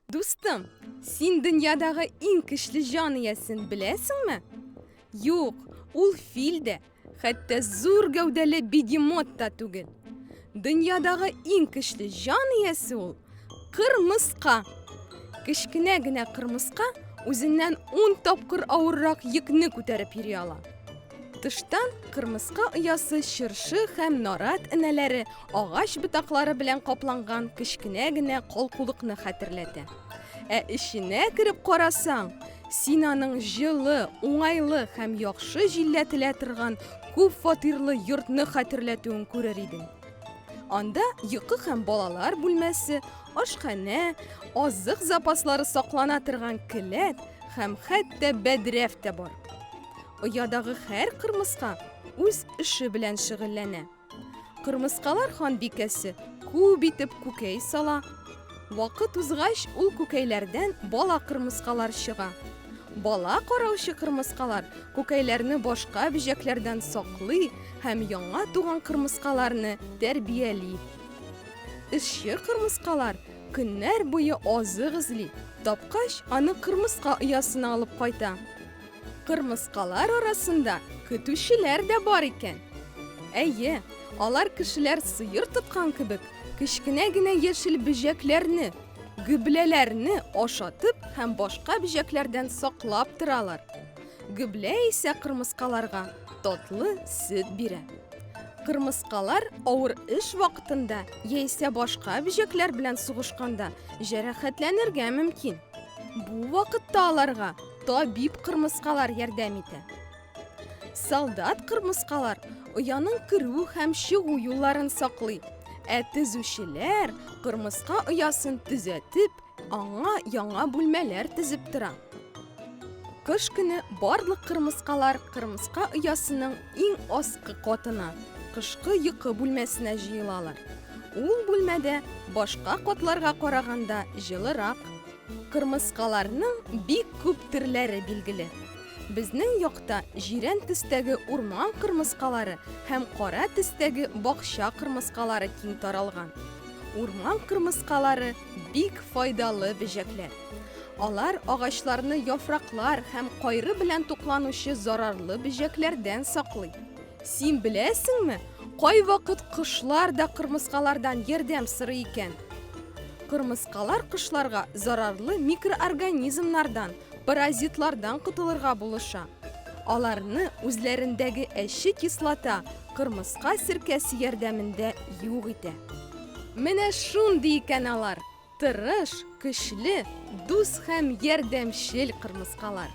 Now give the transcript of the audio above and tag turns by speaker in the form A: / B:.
A: Дустым, син дөньядагы иң көчле җан иясен беләсеңме? Юк, ул фил дә, Хәтта зур гәүдәле бегемот та түгел. Дөньядагы иң көчле җан иясе ул кырмыска. Кечкенә генә кырмыска үзеннән 10 тапкыр авыррак йөкне күтәреп йөри ала. Тыштан кырмыска оясы чыршы һәм нарат энәләре агач ботаклары белән капланган кечкенә генә калкулыкны хәтерләтә. Ә эченә кереп карасаң, син аның җылы, уңайлы һәм яхшы җилләтелә торган күп фатирлы йортны хәтерләтүен күрер идең. Анда йокы һәм балалар бүлмәсе, ашханә, азык запаслары саклана торган келәт һәм хәтта бәдрәф тә бар. Оядагы һәр кырмыска үз эше белән шөгыльләнә. Кырмыскалар ханбикәсе күп итеп күкәй сала. Вакыт узгач, ул күкәйләрдән бала кырмыскалар чыга. Бала караучы кырмыскалар күкәйләрне башка бөҗәкләрдән саклый һәм яңа туган кырмыскаларны тәрбияли. Эшче кырмыскалар көннәр буе азык эзли, тапкач, аны кырмыска оясына алып кайта. Кырмыскалар арасында көтүчеләр дә бар икән. Әйе, алар кешеләр сыер тоткан кебек, кечкенә генә яшел бөҗәкләрне, гөбләләрне ашатып һәм башка бөҗәкләрдән саклап торалар. Гөблә исә кырмыскаларга татлы сөт бирә. Кырмыскалар авыр эш вакытында яисә башка бөҗәкләр белән сугышканда җәрәхәтләнергә мөмкин. Бу вакытта аларга Табиб кырмыскалар ярдәм итә. Солдат кырмыскалар ояның керү һәм чыгу юлларын саклый. Ә төзүчеләр кырмыска оясын төзәтеп, аңа яңа бүлмәләр төзеп тора. Кыш көне барлык кырмыскалар кырмыска оясының иң аскы катына, кышкы йокы бүлмәсенә җыелалар. Ул бүлмәдә башка катларга караганда җылырак, Кырмыскаларның бик күп төрләре билгеле. Безнең якта җирән төстәге урман кырмыскалары һәм кара төстәге бакча кырмыскалары киң таралган. Урман кырмыскалары бик файдалы бөҗәкләр. Алар агачларны яфраклар һәм кайры белән тукланучы зарарлы бөҗәкләрдән саклый. Син беләсеңме, кайвакыт кошлар да кырмыскалардан ярдәм сорый икән. Кырмыскалар кошларга зарарлы микроорганизмнардан, паразитлардан котылырга булыша. Аларны үзләрендәге әче кислота кырмыска серкәсе ярдәмендә юк итә. Менә шундый икән алар, тырыш, көчле, дус һәм ярдәмчел кырмыскалар.